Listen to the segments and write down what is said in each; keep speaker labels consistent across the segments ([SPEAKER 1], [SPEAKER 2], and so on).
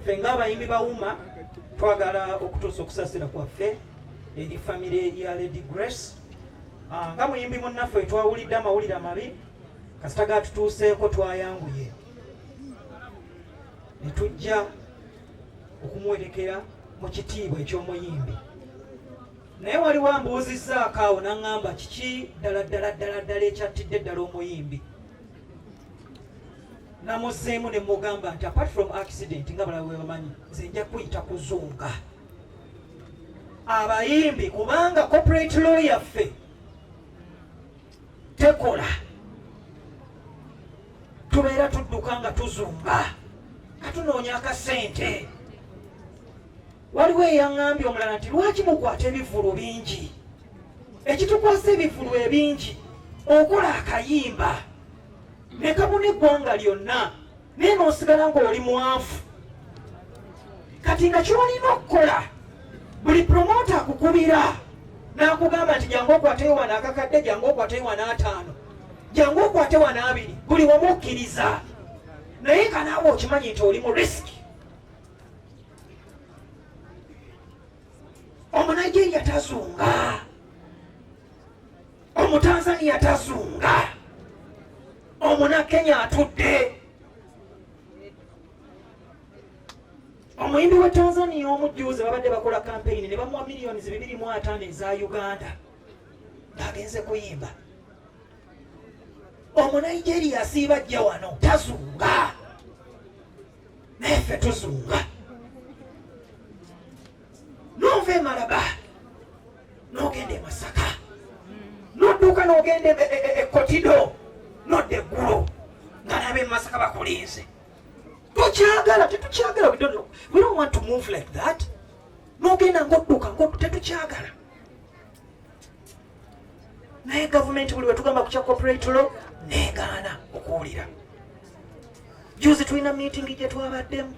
[SPEAKER 1] Ffe ng'abayimbi ba UMA twagala okutuusa okusasira kwaffe eri famire ya Lady Grace ah, nga muyimbi munnaffe twawulidde amawulire amabi kasita gatutuuseeko twayanguye ne tujja okumuwerekera mu kitiibwa eky'omuyimbi naye waliwo ambuuzizzaako awo naŋŋamba kiki ddala ddala ddala ddala ekyattidde ddala omuyimbi namuzeemu ne mugamba nti apart from accident nga balaba bwe bamanyi nze nja kuyita kuzunga abayimbi kubanga corporate law yaffe tekola tubeera tudduka nga tuzunga nga tunoonya akasente waliwo eyaŋambye omulala nti lwaki mukwata ebivulu bingi ekitukwasa ebivulu ebingi okola akayimba nekabuna eggwanga lyonna naye nosigala ngaoli mwavu kati nga kyolina okukola buli promota akukubira nakugamba nti jangu okwateyo wana akakadde jangu okwateyo wana ataano jangu okwate wana abiri buli wamu okkiriza naye kanaawe okimanyi nti oli mu risiki omunaigeria tazunga omutanzania tazunga omunakenya atudde omuyimbi wa tanzania omujjuuzi babadde bakola kampeyini ne bamuwa miliyoni zibibiri mu ataano eza uganda ng'agenze kuyimba omunigeria asiiba jja wano tazunga naye ffe tuzunga nova emalaba nogenda emasaka nodduuka nogenda ekotido e, e, e, nodda eggulo nga naba emasaka bakulinze tokyagala tetukyagala we don't want to move like that nogenda ngodduka ngoddu tetukyagala naye gavumenti buli wetugamba kukya corporate law negaana okuwulira juzi tulina miitingi gyetwabaddemu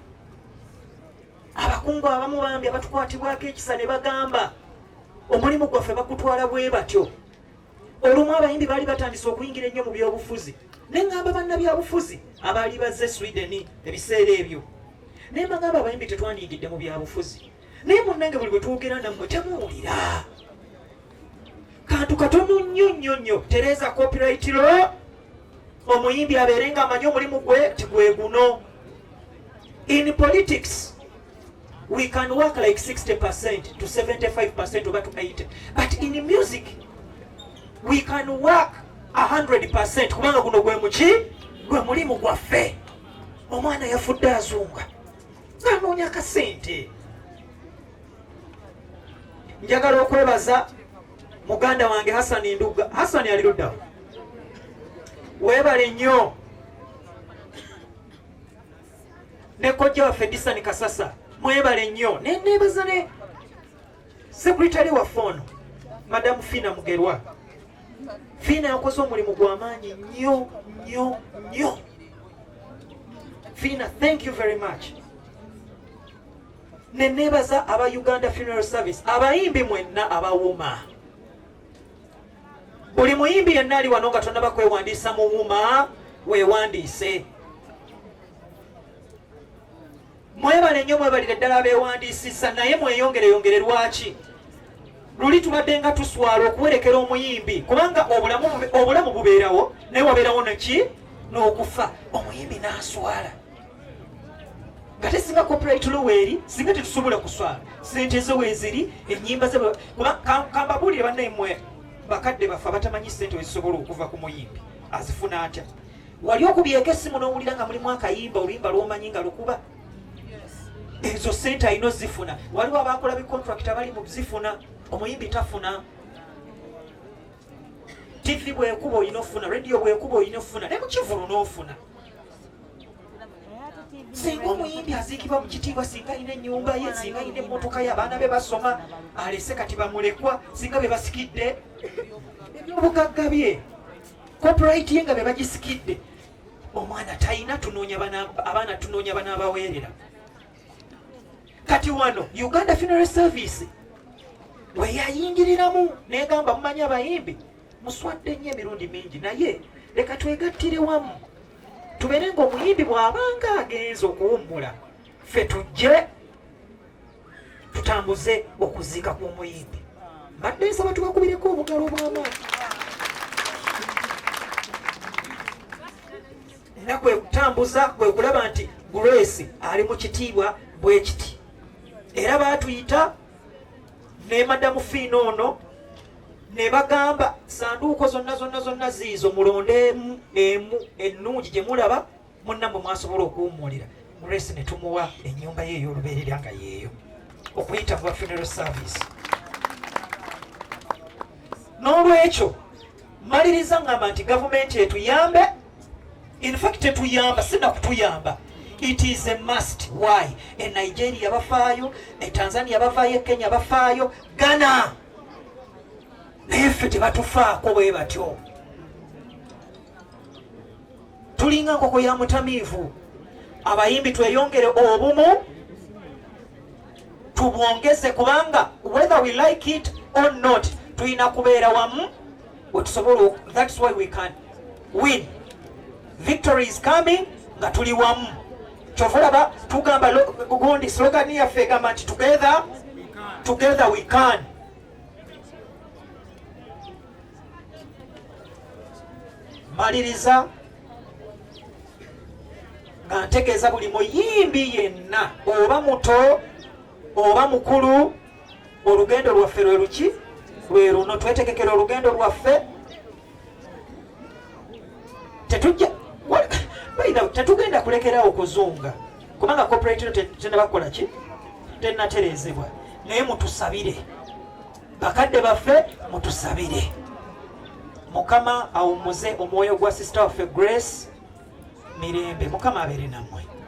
[SPEAKER 1] abakungu abamu bambi abatukwatibwako ekisa ne bagamba omulimu gwaffe bagutwala bwe batyo olumu abayimbi baali batandise okuyingira ennyo mu byobufuzi ne ngamba bannabyabufuzi abaali bazze sweden ebiseera ebyo naye bagamba abayimbi tetwandiyigidde mu byabufuzi naye munange buli bwe twogera nammwe temuwulira kantu katono nnyo nnyo nnyo tereeza copyright lo omuyimbi abeere nga amanyi omulimu gwe tigwe guno in politics we can work like 60 percent to 75 percent oba to 80 but in music we can work 100 percent kubanga guno gwe muki gwe mulimu gwaffe omwana yafudde azunga nanoonya kasente njagala okwebaza muganda wange hasani ndugga hasani ali luddawo webale nnyo ne kojja waffe disani kasasa mwebale nnyo nenebaza ne Sekretary waffe ono Madam Fina Mugerwa, Fina yakoze omulimu gw'amaanyi nnyo nnyo nnyo. Fina, thank you very much. Ne neebaza aba Uganda Funeral Service, abayimbi mwenna abawuma. Buli muyimbi yenna ali wano nga tonnaba kwewandiisa muwuma weewandiise. Mwebale nnyo mwebalire ddala abeewandiisizza naye mweyongereyongere lwaki luli tubadde nga tuswala okuwerekera omuyimbi kubanga obulamu bubeerawo naye wabeerawo neki n'okufa omuyimbi n'aswala nga tesinga copyright loweeri singa tetusobola kuswala sente ze weeziri ennyimba ze kambabuulire bannaimwe bakadde baffe abatamanyi sente wezisobola okuva ku muyimbi azifuna atya wali okubyeko essimu n'owulira nga mulimu akayimba oluyimba lwomanyi nga lukuba ezo sente alina ozifuna waliwo abakola bicontract abali mu zifuna omuyimbi tafuna tv bwekuba olina ofuna radio bwekuba olina ofuna ne mukivulu n'ofuna singa omuyimbi aziikibwa mu kitiibwa singa alina ennyumba ye singa alina emmotoka ye abaana be basoma alese kati bamulekwa singa be basikidde ebyobugagga bye copyright ye nga be bagisikidde omwana talina tunoonya abaana tunoonya banaabaweerera kati wano uganda funeral service weyayingiriramu negamba mumanyi abayimbi muswadde nnyo emirundi mingi naye leka twegattire wamu tubeere ngaomuyimbi bw'abanga agenze okuwummula ffe tujje tutambuze okuziika kw'omuyimbi mbadde nsaba tubakubireko obugalo obw'amaanyi era kwe kutambuza kwe kulaba nti grace ali mu kitiibwa bwe kiti era baatuyita ne madamu fiina ono ne bagamba sanduuko zonna zonna zonna ziizo mulonde emu emu ennungi gye mulaba munnamwe mwasobola okuwummulira grace ne tumuwa ennyumba ye ey'olubeerera nga yeeyo okuyita mu bafuneral service n'olwekyo maliriza ngamba nti gavumenti etuyambe infact tetuyamba sinakutuyamba it is a must why e nigeria bafaayo e tanzania bafaayo e kenya bafaayo ghana naye ffe tebatufaako bwe batyo tulinga nkoko ya mutamiivu abayimbi tweyongere obumu tubwongeze kubanga whether we like it or not tulina kubeera wamu wetusobola that's why we can win victory is coming nga tuli wamu kyova olaba tugamba gundi slogani yaffe egamba nti together together we can maliriza nga ntegeeza buli muyimbi yenna oba muto oba mukulu olugendo lwaffe lwe luki lwe luno twetegekera olugendo lwaffe tetugenda kulekerawo kuzunga kubanga corporate tenabakola ki tenaterezebwa naye mutusabire bakadde baffe mutusabire mukama awumuze omwoyo gwa sisita waffe grace mirembe mukama abeere nammwe